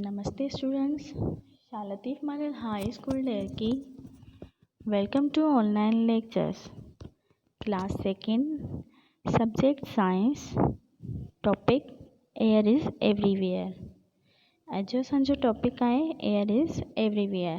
Namaste students Shah Latif model high school Daharki welcome to online lectures class second subject science topic air is everywhere اڄ جو اسانجو topic آھي air is everywhere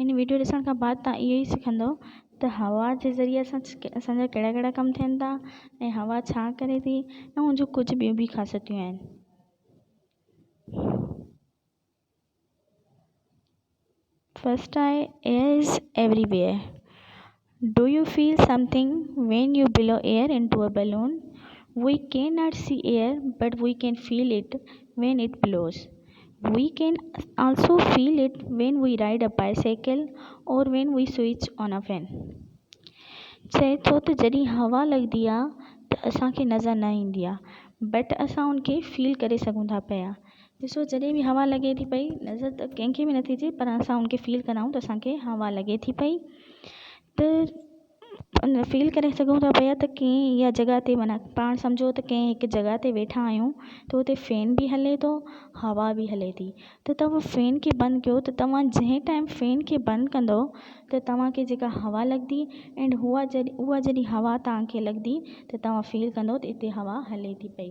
هن video ڏسڻ کان بعد توهان اهو ئي سکندو ته هوا جي ذريعي سان اسان جا ڪهڙا ڪهڙا ڪم ٿين ٿا ۽ هوا ڇا ڪري ٿي ۽ هن جون ڪجهه ٻيون به خاصيتون آهن. فرسٽ آهي air is everywhere do you feel something when you blow air into a balloon, we can not see air but we can feel it when it blows, we can also feel it when we ride a bicycle or when we switch on a fan. چئي ٿو ته جڏهن هوا لڳندي آهي ته اسان کي نظر نه ايندي آهي بٽ اسان ان کي فيل ڪري سگهون ٿا پيا ڏسو جڏهن به هوا لڳي ٿي پئي نظر ته ڪنهن کي به نٿي اچي پر اسان ان کي فيل ڪرائون ته اسان کي هوا لڳي ٿي پئي ته ان فيل ڪري سگهون ٿا پيا ته ڪئين اها جڳهه تي معنيٰ پاڻ سمجهو ته ڪئين هڪ جڳهه تي ويٺا آهيون ته اتي فين به هلي ٿو هوا به هلي ٿي ته تهو فين کي بند ڪيو ته توهان جنهن ٽائيم فين کي بند ڪندو ته توهان کي جيڪا هوا لڳندي اينڊ هوا جڏهن اها جڏهن هوا توهان کي لڳندي ته توهان فيل ڪندو ته اتي هوا هلي ٿي پئي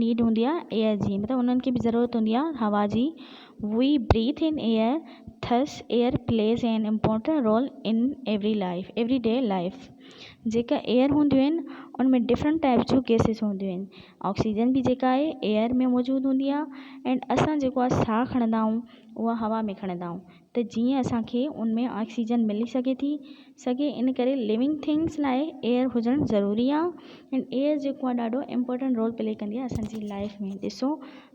نيڊ هوندي آهي ايئر جي مطلب انهن کي به ضرورت هوندي آهي هوا جي we breathe in air thus air plays an important role in every life every day life جيڪا ايئر هونديون آهن ان ۾ ڊفرنٽ ٽائيپ جون گيسز هونديون آهن آڪسيجن بي جيڪا آهي ايئر ۾ موجود هوندي آهي اينڊ اسان جيڪو آهي ساهه کڻندا آهيون اها هوا ۾ کڻندا آهيون ته جيئن اسان کي ان ۾ آڪسيجن ملي سگهي ٿي سگهي ان ڪري ليونگ ٿنگس لاء ايئر هجڻ ضروري آ ان ايئر جيڪو آ ڏاڍو امپورٽنٽ رول پلي ڪندي آ اسان جي لائف ۾ ڏسو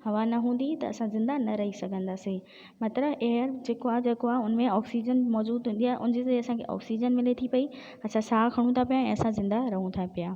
هوا نه هوندي ته اسان زنده نه رهي سگهنداسين مطلب ايئر جيڪو آ جيڪو آ ان ۾ آڪسيجن موجود هوندي آ ان جي ذريعي اسان کي آڪسيجن ملي ٿي پئي اسان ساهه کڻون ٿا پيا ۽ اسان زنده رهون ٿا پيا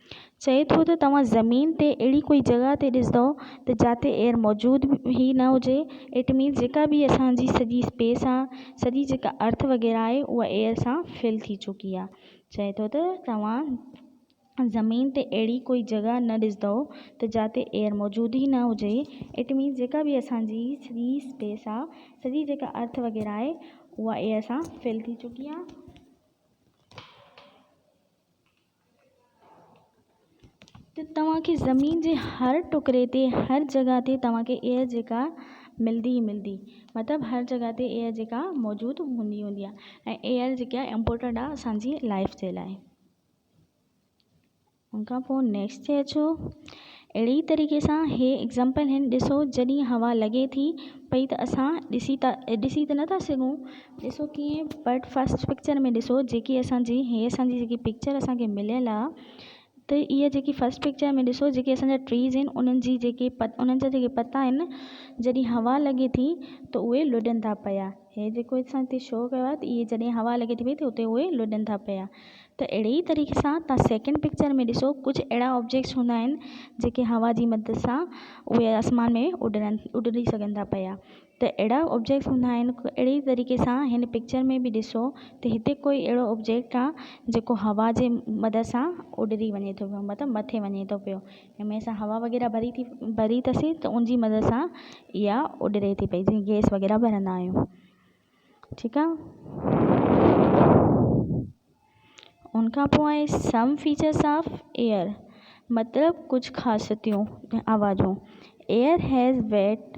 چئي ٿو ته توهان زمين تي اهڙي ڪوئي جڳهه تي ڏسندؤ ته جاتي ايئر موجود ئي نه هجي ايٽ مينس جيڪا به اسان جي سڄي اسپيس آ سڄي جيڪا ارٿ وغيره آهي اها ايئر سان فل ٿي چڪي آ چئي ٿو ته توهان زمين تي اهڙي ڪوئي جڳهه نه ڏسندؤ ته جاتي ايئر موجود ئي نه هجي ايٽ مينس جيڪا به اسان جي سڄي اسپيس آ سڄي جيڪا ارٿ وغيره آهي اها ايئر سان فل ٿي چڪي آ. ته توهان کي زمين جي هر ٽڪري تي هر جڳهه تي توهان کي ايئر جيڪا ملدي ئي ملدي مطلب هر جڳهه تي ايئر جيڪا موجود هوندي هوندي آهي ۽ ايئر جيڪا امپورٽنٽ آهي اسانجي لائف جي لاء ان کان پوء نيڪسٽ تي اچو اهڙي ئي طريقي سان هي ايگزامپل هن ڏسو جڏهن هوا لڳي ٿي پئي ته اسان ڏسي ٿا ڏسي ته نٿا سگهون ڏسو ڪيئن بٽ فرسٽ پڪچر ۾ ڏسو جيڪي اسان جي هي اسان جي جيڪي پڪچر اسان کي مليل آ ته اها جيڪي فرسٽ پڪچر ۾ ڏسو جيڪي اسان جا ٽريز آهن انهن جي جيڪي انهن جا جيڪي پتا آهن جڏهن هوا لڳي ٿي ته اهي لڏن ٿا پيا هي جيڪو اسان هتي شو ڪيو آهي ته اهي جڏهن هوا لڳي ٿي پئي ته اتي اهي لڏن ٿا پيا ته اهڙي ئي طريقي سان تهان سيڪنڊ پڪچر ۾ ڏسو ڪجهه اهڙا آبجيڪٽس هوندا آهن جيڪي هوا جي مدد سان اهي آسمان ۾ اڏرن اڏري سگهن ٿا پيا ته اهڙا آبجيڪٽس هوندا آهن اهڙي ئي طريقي سان هن پڪچر ۾ به ڏسو ته هتي ڪوئي اهڙو آبجيڪٽ آهي جيڪو هوا جي مدد سان اڏري وڃي ٿو پيو مطلب مٿي وڃي ٿو پيو ھنمي سان ھوا وغيره ڀري ٿي ڀري ٿي سھي ته ان جي مدد سان اها اڏري ٿي پئي جيئن گيس وغيره ڀرندا آھيون ٺيڪ آ ان کان پوء آھي سم فيچرس آف ايئر مطلب ڪجھ خاصيتيون آوازون ايئر ھيز ويٽ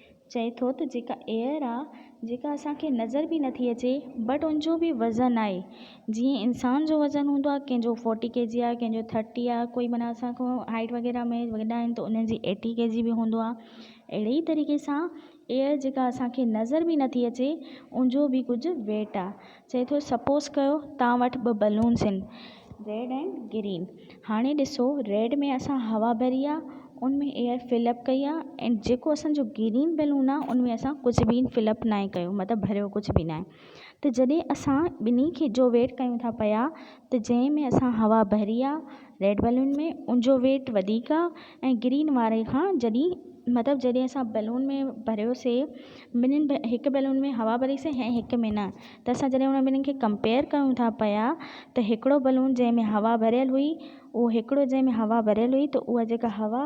چئي ٿو ته جيڪا ايئر آ جيڪا اسان کي نظر به نٿي اچي بٽ ان جو به وزن آهي جيئن انسان جو وزن هوندو آهي ڪنهن جو فورٽي ڪي جي آهي ڪنهن جو ٿرٽي آهي ڪوئي معنيٰ اسان کان هائيٽ وغيره ۾ وڏا آهن ته انهن جي ايٽي ڪي جي به هوندو آهي اهڙي ئي طريقي سان ايئر جيڪا اسان کي نظر به نٿي اچي ان جو به ڪجهه ويٽ آهي چئي ٿو سپوز ڪيو توهان وٽ ٻه بلونز آهن ريڊ ۽ گرين هاڻي ڏسو ريڊ ۾ اسان هوا ڀري آهي ان ۾ ايئر فل اپ ڪئي آهي ۽ جيڪو اسانجو گرين بلون آهي ان ۾ اسان ڪجهه به فل اپ ناهي ڪيو مطلب ڀريو ڪجهه به ناهي ته جڏهن اسان ٻنهي کي جو ويٽ ڪيون ٿا پيا ته جنهن ۾ اسان هوا ڀري آهي ريڊ بلون ۾ ان جو ويٽ وڌيڪ آهي ۽ گرين واري کان جڏهن مطلب جڏهن اسان بلون ۾ ڀريوسي ٻنهن هڪ بيلون ۾ هوا ڀري سين ۽ هڪ ۾ نه ته اسان جڏهن انهن ٻنهن کي ڪمپيئر ڪيون ٿا پيا ته هڪڙو بلون جنهن ۾ هوا ڀريل هئي اهو هڪڙو جنهن ۾ هوا ڀريل هئي ته اها جيڪا هوا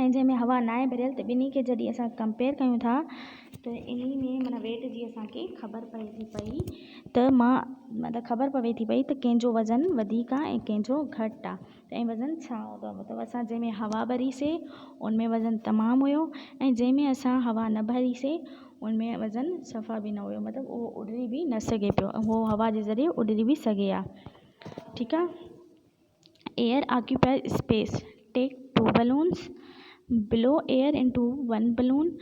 ۽ جنهن ۾ هوا ناهي ڀريل ته ٻنهي کي جڏهن اسان ڪمپيئر ڪيون ٿا ته انهي ۾ معنيٰ ويٽ جي اسان کي خبر پئي ٿي پئي ته مان معنيٰ خبر پوي ٿي پئي ته ڪنهن جو وزن وڌيڪ آهي ۽ ڪنهن جو گهٽ آهي تنهن وزن ڇا هوندو مطلب اسان جنهن ۾ هوا ڀري سي ان ۾ وزن تمام هيو ۽ جنهن ۾ اسان هوا نه ڀري سي ان ۾ وزن صفا به نه هيو مطلب اهو اڏري به نه سگهي پيو اهو هوا جي ذريعي اڏري به سگهي ها ٺيڪ آ air occupies space take two balloons blow air into one balloon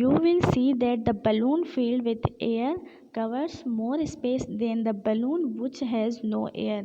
you will see that the balloon filled with air covers more space than the balloon which has no air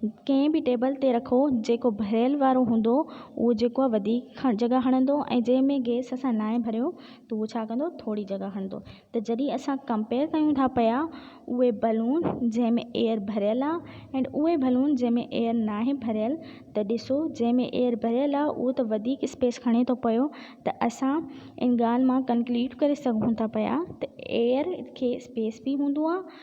ڪنهن به table تي رکو جيڪو ڀريل وارو هوندو اهو جيڪو آهي وڌيڪ جڳهه هڻندو ۽ جنهن ۾ گئس اسان ناهي ڀريو ته اهو ڇا ڪندو ٿوري جڳهه هڻندو ته جڏهن اسان ڪمپيئر ڪيون ٿا پيا اهي بلون جنهن ۾ ايئر ڀريل آهي اينڊ اهي بلون جنهن ۾ ايئر ناهي ڀريل ته ڏسو جنهن ۾ ايئر ڀريل آهي اهو ته وڌيڪ اسپيس کڻي ٿو پيو ته اسان ان ڳالهه مان ڪنڪليوڊ ڪري سگهون ٿا پيا ته ايئر کي اسپيس به هوندو آهي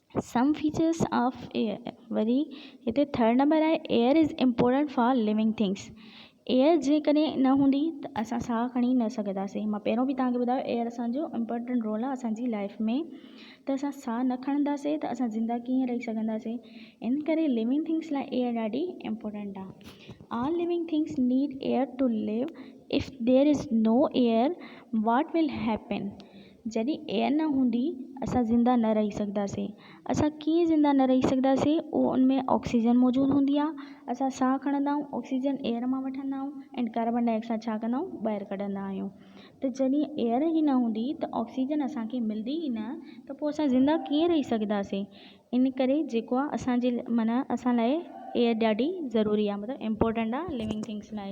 سم فيچرس آف ايئر وري هتي ٿرڊ نمبر آهي air is important for living things air جيڪڏهن نه هوندي ته اسان ساهه کڻي نه سگهنداسين مون پهريون به توهان کي ٻڌايو ايئر اسانجو امپورٽنٽ رول آهي اسانجي لائف ۾ ته اسان ساهه نه کڻنداسين ته اسان زنده ڪيئن رهي سگهنداسين ان ڪري لوئنگ ٿنگس لاء ايئر ڏاڍي امپورٽنٽ آهي all living things need air to live if there is no air what will happen جڏهن اها نه هوندي، اسان زنده نه رهي سگهنداسين. اسان ڪيئن زنده نه رهي سگهنداسين؟ اهو ان ۾ آڪسيجن موجود هوندي آهي. اسان ساهه کڻندا آهيون، آڪسيجن ايئر مان وٺندا آهيون ۽ ڪاربان ڊاء آڪسائيڊ ڇا ڪندا آهيون؟ ٻاهر ڪڍندا آهيون. ته جڏهن ايئر ئي نه هوندي ته آڪسيجن اسان کي ملندي ئي نه ته پوء اسان زنده ڪيئن رهي سگهنداسين؟ ان ڪري جيڪو آهي اسان جي معنيٰ اسان لاء ايئر ڏاڍي ضروري آهي مطلب امپورٽنٽ آهي لوئنگ ٿنگس لاء.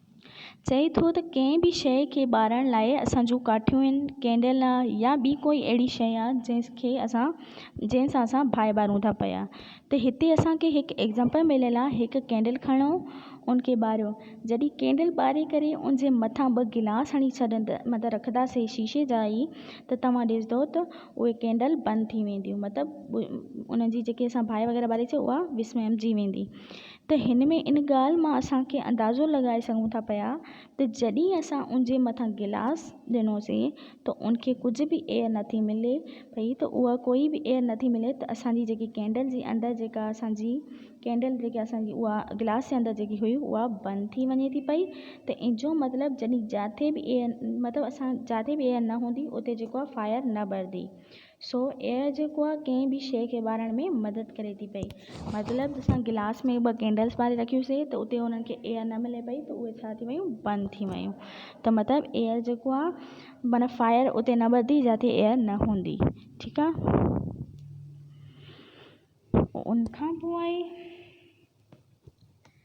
چئي ٿو ته ڪنهن به شيء کي ٻارڻ لاء اسان جون ڪاٺيون آهن، ڪينڊل آهي يا ٻي ڪوئي اهڙي شيء آهي جنهن کي اسان جنهن سان اسان باهه ٻارون ٿا پيا ته هتي اسان کي هڪ ايگزامپل مليل آهي هڪ ڪينڊل کڻو ان کي ٻاريو جڏهن ڪينڊل ٻاري ڪري ان جي مٿان ٻه گلاس هڻي ڇڏندا مطلب رکنداسين شيشي جا ئي ته توهان ڏسندو ته اهي ڪينڊل بند ٿي وينديون مطلب ان جي جيڪي اسان باهه وغيره ٻاري سي اها وسمجي ويندي ته هن ۾ ان ڳالهه مان اسان کي اندازو لڳائي سگهون ٿا پيا ته جڏهن اسان ان جي مٿان گلاس ڏنوسين ته ان کي ڪجهه به ايئر نه ٿي ملي پئي ته اها ڪوئي به ايئر نه ٿي ملي ته اسان جي جيڪي ڪينڊل جي اندر جيڪا اسان جي ڪينڊل جيڪي اسان جي اها گلاس جي اندر جيڪي هئي اها بند ٿي وڃي ٿي پئي ته ان جو مطلب جڏهن جاٿي به ايئر مطلب اسان جاٿي به ايئر نه هوندي اتي جيڪو آهي فائر نه ٻرندي سو ايئر جيڪو آ ڪنهن به شيء کي ٻارڻ ۾ مدد ڪري ٿي پئي. مطلب اسان گلاس ۾ ٻه ڪينڊلس ٻاري رکيوسين ته اتي انهن کي ايئر نه ملي پئي ته اهي ڇا ٿي ويون بند ٿي ويون ته مطلب ايئر جيڪو آ معنيٰ فائر اتي نه ٻرندي جتي ايئر نه هوندي ٺيڪ آ ان کان پوء آئي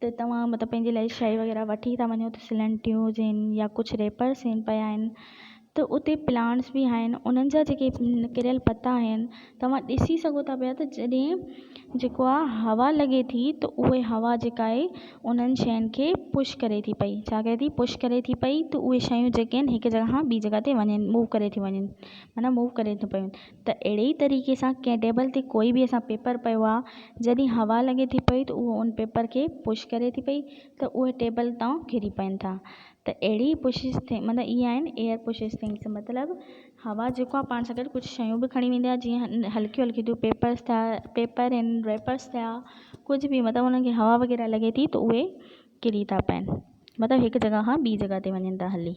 ته توهان مطلب پنهنجي لاء شيء وغيره وٺي ٿا وڃو ته سلنٽيون هجين يا ڪجهه ريپرس هين پيا آهن ته اتي پلانٽس به آهن انهن جا جيڪي ڪريل پتا آهن توهان ڏسي سگهو ٿا پيا ته جڏهن جيڪو آهي هوا لڳي ٿي ته اهي هوا جيڪا آهي انهن شين کي پش ڪري ٿي پئي ڇا ڪري ٿي پش ڪري ٿي پئي ته اهي شيون جيڪي آهن هڪ جڳهه کان ٻي جڳهه تي وڃن موو ڪري ٿي وڃن معنيٰ موو ڪري ٿي پيون ته اهڙي ئي طريقي سان ڪنهن ٽيبل تي ڪوئي به اسان پيپر پيو آ جڏهن هوا لڳي ٿي پئي ته اهو ان پيپر کي پش ڪري ٿي پئي ته اهي ٽيبل تان ڪري پون ٿا ته اهڙي ئي پشز ٿي مطلب اهي آهن ايئر پشز ٿنگز مطلب هوا جيڪو آ پاڻ سان گڏ ڪجهه شيون به کڻي ويندي آ جيئن هلڪيون هلڪيون ٿيون پيپرز ٿيا پيپر ۽ ريپرز ٿيا ڪجهه به مطلب انهن کي هوا وغيره لڳي ٿي ته اهي ڪري ٿا پون مطلب هڪ جڳهه کان ٻي جڳهه تي وڃن ٿا هلي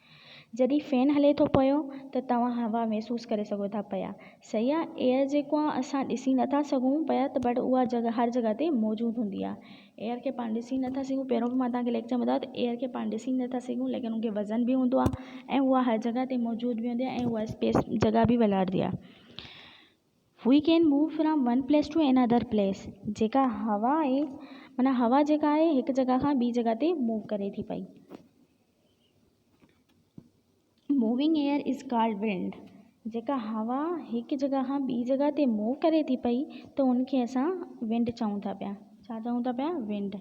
جڏهن فين هلي ٿو پيو ته توهان هوا محسوس ڪري سگهو ٿا پيا. سيان ايئر جيڪو آهي اسان ڏسي نه ٿا سگهون پيا ته بٽ اها جڳهه هر جڳهه تي موجود هوندي آهي. ايئر کي پاڻ ڏسي نه ٿا سگهون پهريون به مان توهان کي ليڪچر ۾ ٻڌايو ته ايئر کي پاڻ ڏسي نه ٿا سگهون ليڪن ان کي وزن به هوندو آهي ۽ اها هر جڳهه تي موجود به هوندي آهي ۽ اها اسپيس جڳهه به ولهاريندي آهي. We can move from one place to another place جيڪا هوا آهي معنيٰ هوا جيڪا آهي هڪ جڳهه کان ٻي جڳهه تي موو ڪري ٿي پئي. Moving air is called wind جيڪا هوا هڪ جڳهه کان ٻي جڳهه تي موو ڪري ٿي پئي ته ان کي اسان ونڊ چئون ٿا پيا ڇا چئون ٿا پيا wind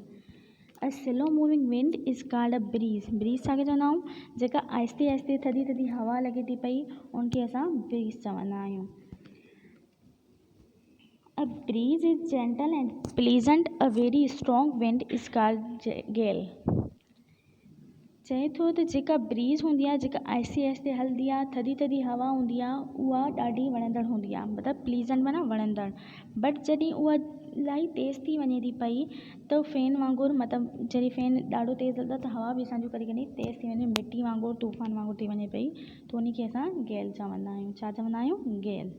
a slow moving wind is called a breeze breeze ڇا کي چوندا آهيون جيڪا آهستي آهستي ٿڌي ٿڌي هوا لڳي ٿي پئي ان کي اسان بريز چوندا آهيون a breeze is gentle and pleasant a very strong wind is called gale چئي ٿو ته جيڪا بريز هوندي آهي جيڪا آهستي آهستي هلندي آهي ٿڌي ٿڌي هوا هوندي آهي اها ڏاڍي وڻندڙ هوندي آهي مطلب پليزنٽ معنيٰ وڻندڙ بٽ جڏهن اها الاهي تيز ٿي وڃي ٿي پئي ته فين وانگر مطلب جڏهن فين ڏاڍو تيز هلندو آهي ته هوا به اسان جون ڪڏهن ڪڏهن تيز ٿي وڃي مٽي وانگر طوفان وانگر ٿي وڃي پئي ته ان کي اسان گيل چوندا آهيون ڇا چوندا آهيون گيل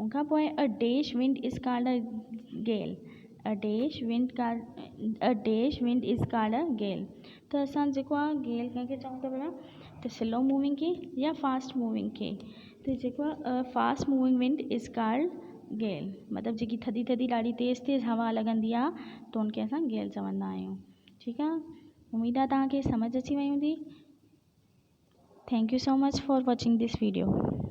ان کان پوء a dash wind is called a gale, a dash wind called, a dash wind is called a gale, ته اسان جيڪو آ گيل ڪنهن کي چئون ٿا ڀلا ته سلو موونگ کي يا فاسٽ موونگ کي، ته جيڪو آ a fast moving wind is called gale, مطلب جيڪي ٿڌي ٿڌي ڏاڍي تيز تيز هوا لڳندي آ ته ان کي اسان گيل چوندا آهيون. ٺيڪ آ اميد آ توهان کي سمجهه اچي وئي هوندي. Thank you so much for watching this video.